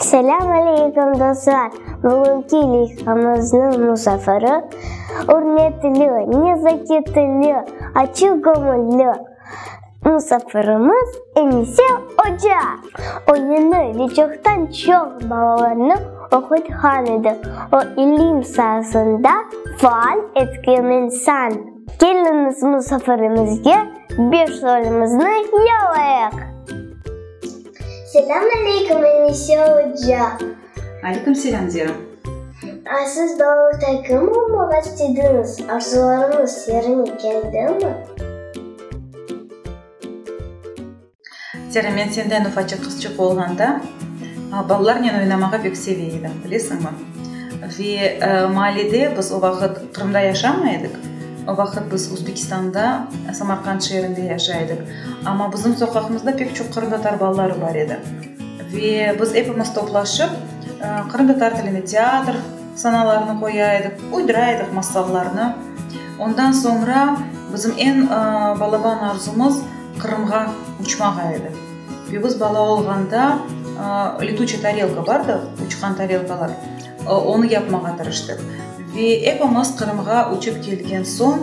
Selâm aleykum dostlar! Bugünki leyhamızniñ musafiri, ürmetli, nezaketli, açıq göñülli musafirimiz Enise oca. Oyunı ve çoqtan çoq balalarnı oqutqan edi. O, ilim saasında faal etkin insan. Keliñiz, musafirimizge beş rolimizni yalayıq! Selâm aleyküm, Enise oca! Aleyküm selâm, Zera! Siz doğruda kim olmaq istediñiz? Arzularıñız yerine keldimi? Zera, men senden ufacıq qızçıq olğanda, balalarnen oynamağa pek seve edim, bilesiñmi? Ve maallede, biz o vaqıt Qırımda yaşamay edik, o vaqıt biz Özbekistanda, Samarqand şeerinde yaşay edik. Amma bizim soqaqımızda pek çoq qırımtatar balaları bar edi. Ve biz epimiz toplaşıp, qırımtatar tilinde teatr sanalarını qoya ediq, uydıra ediq masallarnı. Ondan soñra bizim eñ balaban arzumız Qırımğa uçmağa edi. Ve biz bala olğanda Letüçe tarelka bardı, Uçqan tarelkalar. Onı yapmağa tırıştıq. Ve epimiz Qırımğa uçıp kelgen soñ,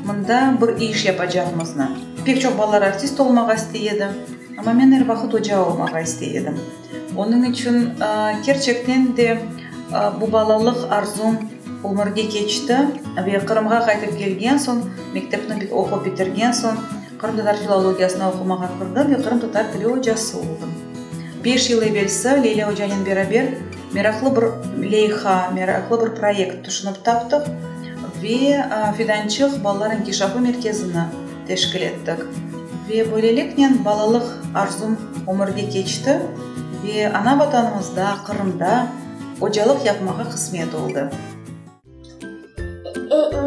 mında bir iş yapacaqmıznı. Pek çoq balalar artist olmağa istey edi. Amma men er vaqıt oca olmağa istey edim. Onıñ içün kerçekten de bu balalıq arzum ömürge keçti. Ve Qırımğa qaytıp kelgen soñ, mektepni oqup bitirgen soñ, Qırım tatar filologiyasını oqumağa kirdi ve Qırım tatar tili ocası oldı. Beş yıl evelsi Leyla ocanen beraber meraqlı bir leyha, meraqlı bir proyekt tüşünip taptıq ve Fidançıq balalar inkişafı merkezini teşkil ettik. Ve böyleliknen balalıq arzum ömürge keçti ve ana Vatanımızda, Qırımda ocalıq yapmağa qısmet oldı.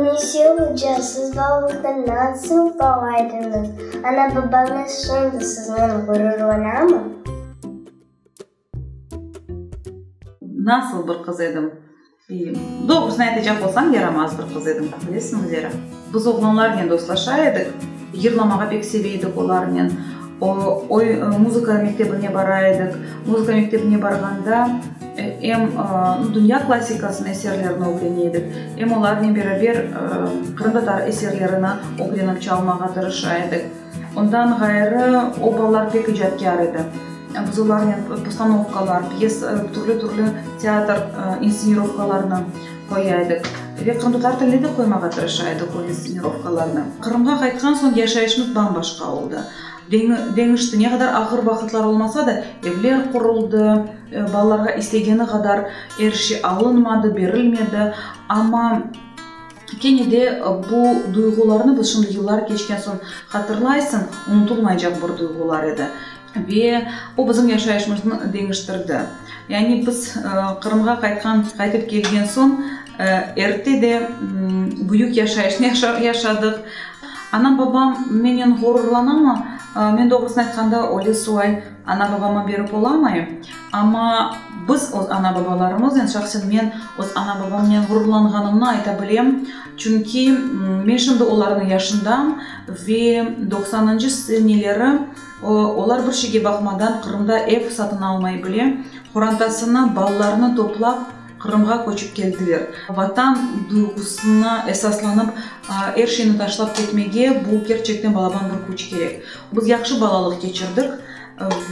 Nesi olca siz bağlıqta nasıl bağlaydınız? Ana-babañız şimdi siznen ğururlanamı? Nasıl bir qız edim? Doğrusını aytacaq olsam, yaramaz bir qız edim, bilesiñizlerâ. Biz oğlanlarnen dostlaşa edik. Yırlamağa pek seve edik olarnen. Muzıka mektebine bara edik. Muzıka mektebine barğanda em dünya klassikasınıñ eserlerini ögrene edik, em olarnen beraber qırımtatar eserlerini ögrenip çalmağa tırışa edik. Ondan ğayrı, o balalar pek icatkâr edi. Biz olarnen postanovkalar, piyes, türlü-türlü teatr insenirovkalarını. Qoya edik ve qırımtatar tilde de qoymağa tırışa edik o instsenirövkalarnı. Qırımğa qaytqan soñ yaşayışımız bam-başqa oldı. Deñişti, ne qadar ağır vaqıtlar olmasa da, evler quruldı, balalarğa istegeni qadar er şey alınmadı, berilmedi, amma kene de bu duyğularnı, şimdi yıllar keçken soñ hatırlaysıñ, unutulmaycaq bir duyğular edi. Ve o bizim yaşayışımıznı deñiştirdi. Yani biz Qırımğa qaytqan, qaytıp kelgen soñ erte de büyük yaşayışnı yaşadıq. Anam-babam menen ğururlanamı? Men doğrusını aytqanda, öyle sual ana-babama berip olamayım. Amma biz öz ana-babalarımız, yani şahsen men öz ana-babamnen ğururlanğanımnı ayta bilem. Çünki men şimdi olarnıñ yaşındam ve doqsanıncı seneleri, Olar bir şeyge baqmadan Qırımda ev satın almay bile, qorantasını, balalarını toplap Qırımğa köçip keldiler. Vatan duyğusına esaslanıp er şeyni taşlap ketmege bu kerçekten balaban bir küç kerek. Biz yahşı balalıq keçirdik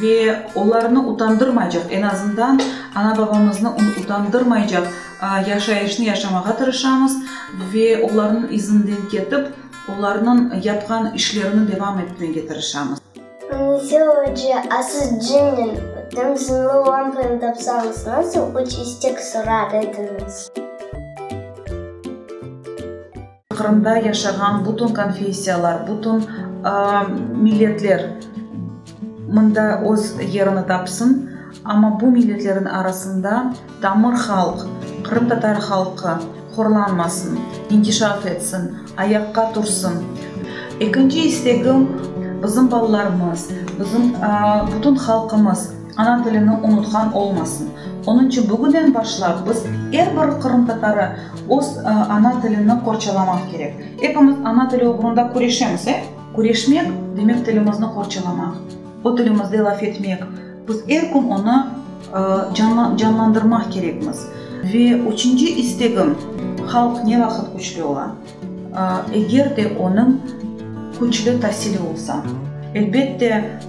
ve olarnı utandırmaycaq, en azından ana-babamıznı utandırmaycaq yaşayışnı yaşamağa tırışamız ve olarnıñ izinden ketip, Olarnıñ yapqan işlerini devam etmege tırışamız. Neyse oca, a siz cınnen ötem zınlı lampanı tapsañız, nasıl üç istek sorar ediñiz? Qırımda yaşağan bütün konfessiyalar, bütün milletler. Mında öz yerini tapsın, amma bu milletlerin arasında tamır halq, qırımtatar halqı, horlanmasın, inkişaf etsin, ayaqqa tursın. Ekinci istegim, bizim balalarımız, bizim bütün halqımız ana tilini unutqan olmasın. Onıñ içün bugünden başlap biz er bir qırımtatarı öz ana tilini qorçalamaq kerek. Epimiz ana tili oğrunda küreşemiz, e? Küreşmek, demek tilimizni qorçalamaq, o tilimizde laf etmek, biz er kün onı canlandırmaq kerekmiz. Ve üçünci istegim, halq ne vaqıt küçlü ola? Eger de onıñ küçlü tasili olsa. Elbette,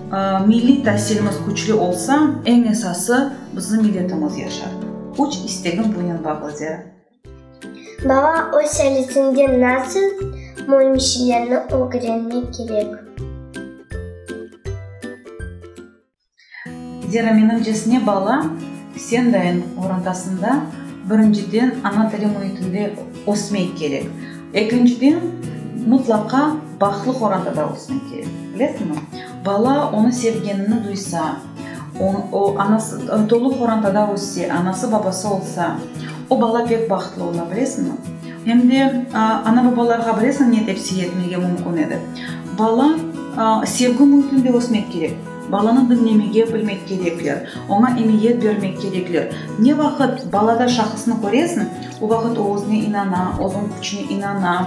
milliy tasilimiz küçlü olsa, eñ esası, bizim milletimiz yaşar. Üç istegim bunen bağlıdır. Bala öz salisinde nasıl mölmişlerni ögrenmek kerek? Zira menimcesine bala sen dayın orantasında birinciden ana tili müitinde ösmek kerek. Ekinciden mutlaqa baqlıq orantada ösmek kerek. Bilesiñmi? Bala onı sevgenini duysa, O, anası, tolu qorantada össe, anası, babası olsa, o bala pek bahtlı ola, bilesiñmi? Em de, ana-babalarğa bilesiñ ne tepsiye etmege mümkün edi? Bala, sevgi müitinde ösmek kerek, balanı diñlemege bilmek kerekler, oña emiyet bermek kerekler. Ne vaqıt balada şahısnı köresiñ, o vaqıt o özüne inana, özüñ küçüne inana,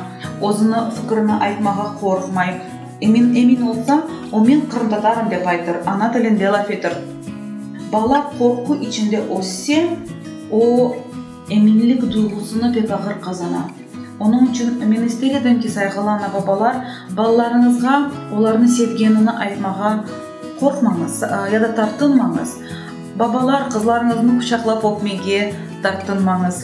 özüni, fikirini aytmağa qorqmay, Emin, emin olsa, o men qırımtatarım dep aytır, ana tilinde laf etir. Bala qorqu içinde össe, o. Eminlik duyğusını pek ağır qazana. Onıñ içün men ister edim ki, sayğılı ana-babalar, balalarıñızğa olarnı sevgenini aytmağa qorqmañız ya da tartınmañız. Babalar, qızlarıñıznı quçaqlap öpmege tartınmañız.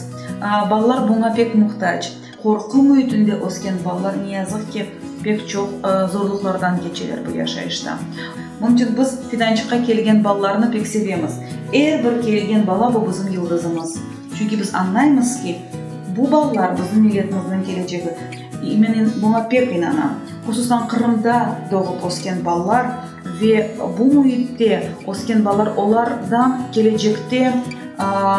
Balalar buña pek muhtac. Qorqu müitinde ösken balalar, ne yazıq ki, pek çoq zorluqlardan keçeler bu yaşayışta. Bunıñ içün biz Fidançıqqa kelgen balalarnı pek sevemiz. Er bir kelgen bala, bu bizim yıldızımız. Çünki biz añlaymız ki, bu balalar, bizim milletimizniñ kelecegi. Men buña pek inanam. Hususan Qırımda doğıp ösken balalar, Ve bu müitte ösken balalar, olar da kelecekte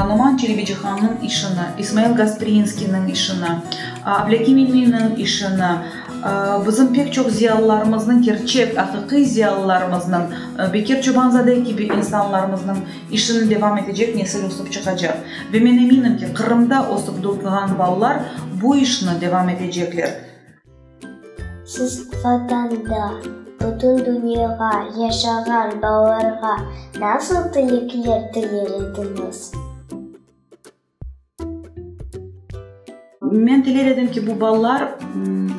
Noman Çelebicihannıñ işini, İsmail Gasprinskiyniñ işini, Ablâki Meminiñ işini, bizim pek çoq ziyalılarımıznıñ, kerçek, aqiqiy ziyalılarımıznıñ, Bekir Çoban-Zade kibi insanlarımıznıñ işini devam etecek nesil ösüp çıqacaq. Ve men eminim ki, Qırımda ösüp doğğan balalar bu işni devam etecekler. Siz Vatanda, bütün dünyağa, yaşağan balalarğa nasıl tilekler tiler ediñiz? Men tiler edim ki, bu balalar,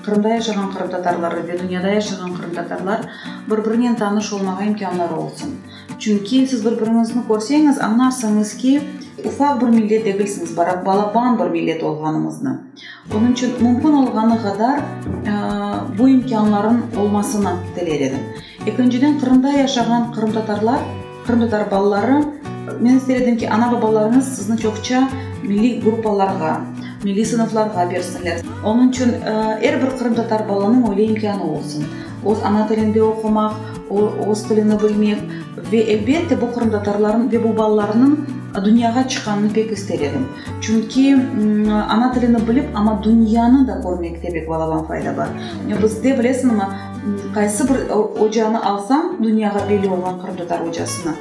Qırımda yaşağan qırımtatarları ve dünyada yaşağan qırımtatarlar bir-birinen tanış olmağa imkânları olsun. Çünki siz bir-biriñizni körseñiz, añarsıñız ki, ufaq bir millet degilsiñiz, balaban bir millet olğanıñıznı. Onıñ içün mümkün olğanı qadar bu imkânlarnıñ olmasını tiler edim. Ekinciden, Qırımda yaşağan qırımtatarlar, qırımtatar balaları, men ister edim ki, ana-babalarıñız sizni çoqça milliy gruppalarğa, milliy sınıflarğa bersinler. Onıñ içün er bir qırımtatar balanıñ öyle imkânı olsun, öz ana tilinde oqumaq, öz tilini bilmek ve, elbette, bu qırımtatarlarnıñ ve bu balalarnıñ dünyağa çıqqanını pek ister edim. Çünki ana tilini bilip, amma dünyanı da körmekte pek balaban fayda bar. Bizde, bilesiñmi, qaysı bir ocanı alsañ, dünyağa belli olğan qırımtatar ocasını,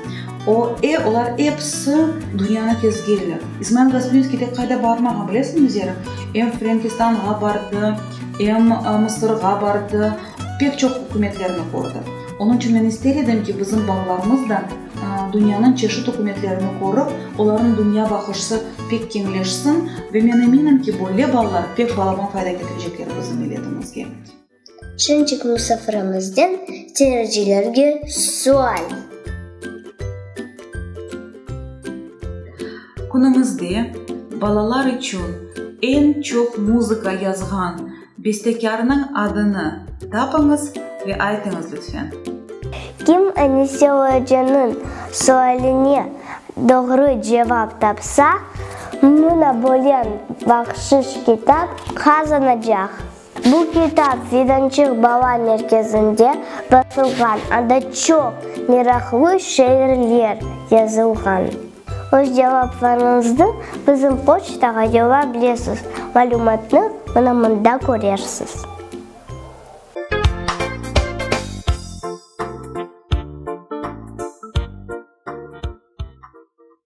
o, e, olar episi dünyanı kezgenler. İsmail Gasprinskiy tek qayda barmağan, bilesiñmi, Zera? Em Frenkistanğa bardı, em Mısırğa bardı, pek çoq ükümetlerni kördi. Onıñ içün men ister edim ki, bizim balalarımız da, Dünyanıñ çeşit ükümetlerini körip, olarnıñ dünya baqışsı pek keñleşsin ve men eminim ki, böyle ballar pek falaban fayda ketirecekler bizim milletimizge. Şençik musafirımızdan seyircilerge sual. Künümizde balalar içün eñ çoq muzıka yazğan. Bestekârnıñ adını tapıñız ve aytıñız lütfen. Kim Anise ocanıñ sualine doğru cevap tapsa, mına bolen bahşış kitap qazanacaq. Bu kitap Fidançıq bala merkezinde basılğan, anda çoq meraqlı şeirler yazılğan. Öz cevaplarıñıznı bizim poçtağa yolla bilesiz, malümatnı mına mında körersiz.